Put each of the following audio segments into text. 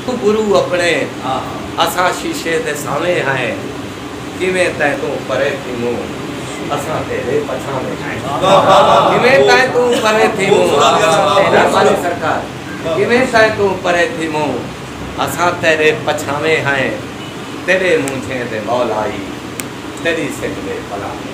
او گرو اپݨے اساں شیشے دے سانویں ہائیں کیویں تیں توں پرے تھیموں اساں تیڈے پچھانویں ہائیں کیویں تیں توں پرے تھیموں اساں تیڈے پچھانویں سرکار کیویں تیں توں پرے تھیموں اساں تیڈے پچھانویں ہائیں تیڈے مونجھیں دے مولائی تیڈی سکھ دے پلاویں۔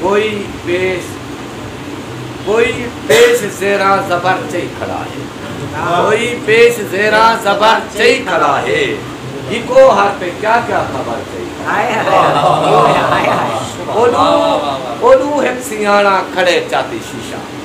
کوئی پیش کوئی پیش زیراں زبر چئی کھڑا ہے کوئی پیش زیراں زبر چئی کھڑا ہے ہکو ہر پہ کیا کیا خبر چئی اولو اولو ہک سیاڑا کھڑے چاتی شیشہ